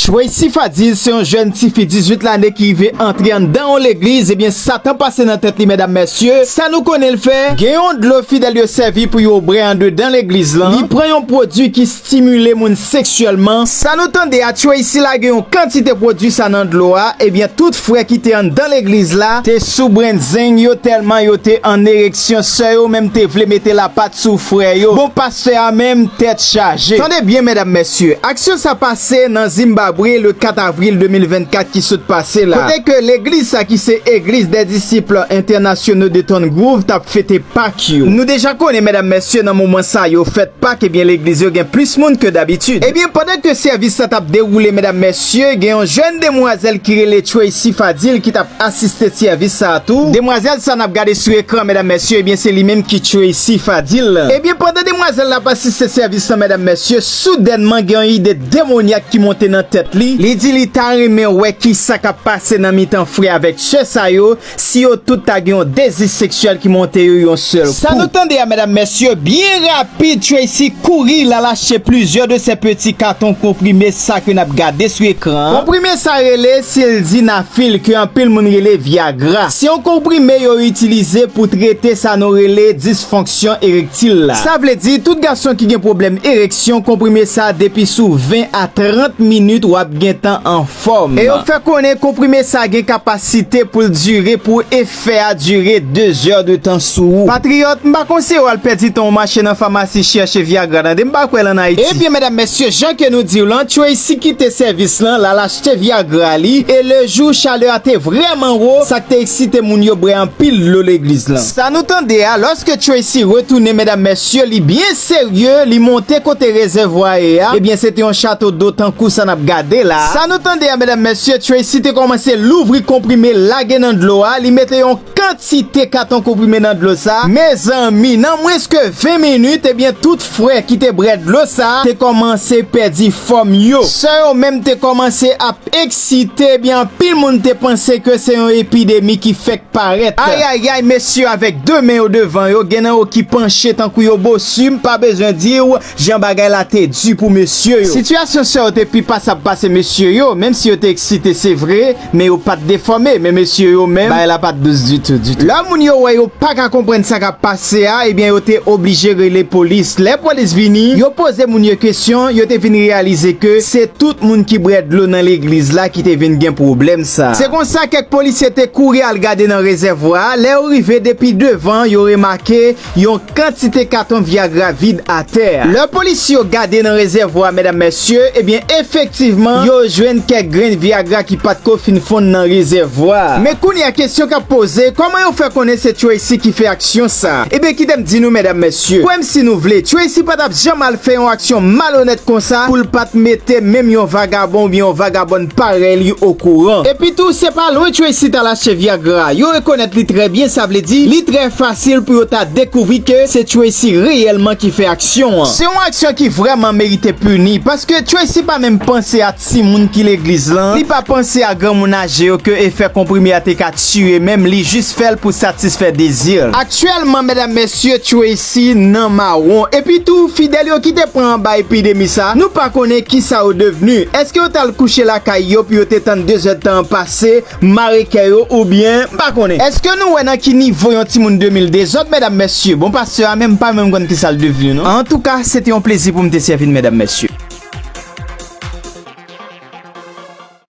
Tracy Fadil se yon jèn tifi 18 lane ki rive antre anndan yon legliz ebyen satan pase nan tèt li medam mesye sa nou konnen l fè gen yon dlo fidèl yo sèvi pou yo bre andedan legliz lan li pran yon pwodwi ki stimile moun seksyèlman sa nou tande a Tracy lage yon kantite pwodwi sa nan dlo a ebyen tout frè ki te anndan legliz la te sou brenzeng yo tèlman yo te an ereksyon sè yo menm te vle mete lapat sou frè yo bon pa Fè a menm tèt chaje. Tande byen medam mesye, aksyon sa pase nan Zimbabre le 4 avril 2024 ki sot pase la, kote ke legliz sa ki se Eglise des Disciples Internationaux de Ton Groove tap fete Pak yo. Nou deja konnen medam mesye nan moman sa yo fèt Pak ebyen legliz yo gen plis moun ke dabitid. Ebyen pandan ke sèvis sa tap dewoule medam mesye. Sye, gen yon jèn demwazèl ki rele Tracy Fadil ki tap asiste sèvis sa a tou. Demwazèl sa nap gade sou ekran medam mesye ebyen se li menm ki Tracy Fadil. Ebyen pandan demwazèl la ap asiste sèvis lan medam mesye, soudènman gen yon ide demonyak ki monte nan tèt li, li di li ta renmen wè kisa kap pase nan mitan frè avèk sè sa yo, Si yo tout ta gen yon dezi seksyèl ki monte yo yon sèl kou. Sa nou tande a medam mesye, byen rapid Tracy kouri lal achte plizyè de sè peti katon konprime sa ke nap gade sou ekran an. Konprime sa rele Sildenafil ke anpil moun rele Viagra. Se yon konprime yo itilize pou trete sa nou rele disfonksyon erektil la. Sa vle di tout gason ki gen pwoblèm ereksyon konprime sa depi sou 20 a 30 minit wap gentan an fòm. E yo fè konnen konprime sa gen kapasite pou l dire pou efè a dire 2 zè de tan sou ou. Patriyòt, m pa konseye w al pèdi tan w mache nan famasi chèche Viagra tande, m pa kwè l an Ayiti. Ebyen medam mesye jan ke nou di w lan Tracy kite sèvis lan, l al achte Viagra li, e le jou chalè a te vrèman wo, sa k te eksite moun yo bwè anpil dlo legliz lan. Sa nou tande a, lòske Tracy retounen medam mesye, Sye li byen serye, li monte kote rezèvwa a ye a, ebyen se te yon chato do tankou sa nap gade la. Sa nou tande a medam mesye, Tracy te kòmanse louvri konprime lage nan dlo a, li mete yon kantite katon konprime nan dlo sa, mezanmi nan mwens ke 20 minit ebyen tout fre ki te brè dlo sa te kòmanse pèdi fòm yo. Sè yo menm te kòmanse ap. Eksite ebyen anpil moun te panse ke se yon epidemi ki fèk parèt. Ayayay mesye avèk 2 men yo devan yo gen nan yo ki panche tankou yo bossu m pa bezwen diw jan bagay la te du pou mesye yo. Sitiyasyon sè yo te pi pasab pase mesye yo, menm si yo te eksite se vre men yo pat defòme men mesye yo menm bagay la pat dous ditou ditou. Lè moun yo wè yo paka konprann sa kap pase. Sea ebyen yo te oblije rele polis lè polis vini yo poze moun yo kesyon yo te vin reyalize ke se tout moun ki brè dlo nan legliz la ki te vin gen pwoblèm sa se konsa kèk polisye te kouri al gade nan rezèvwa a lè yo rive depi devan yo remake yon kantite katon vyagra vid atè lè polis yo gade nan rezèvwa a medam mesye ebyen efektivman yo jwenn kèk grenn vyagra ki pat ko fin fonn nan rezèvwa. Vwa. Men kounye a kesyon kap poze kòman yo fè konnen se Tracy ki fè aksyon sa? Ebyen kitem di nou medam mesye, kwèm si nou vle Tracy patap janm al fè yon aksyon malonèt konsa poul pat mete menm yon vagabon oubyen yon vagabòn parèy li okouran. Epi tou se pa lwen Tracy tal achte viagra a, yo rekonèt li trè byen sa vle di li trè fasil pou yo ta dekouvri ke se Tracy reyèlman ki fè aksyon an. Se yon aksyon ki vrèman merite pini paske Tracy pa menm panse a Si moun ki legliz lan, li pa panse a granmoun aje yo ke efè konprime a te ka tiye menm li jis fè l pou satisfè dezi l. Aktyèlman medam mesye Tracy nan mawon epi tou fidèl yo ki te pran anba epidemi sa nou pa konnen kisa yo devni eske yo t al kouche lakay yo pou yo te tann dezèdtan an pase M mare kè yo ou byen m pa konnen. Eske nou wè nan ki nivo yon timoun 2000 dezòd medam mesye bon pastè a menm m pa menm konn kisal devenu non. Antouka se te yon plezi poum te sèvi n medam mesye.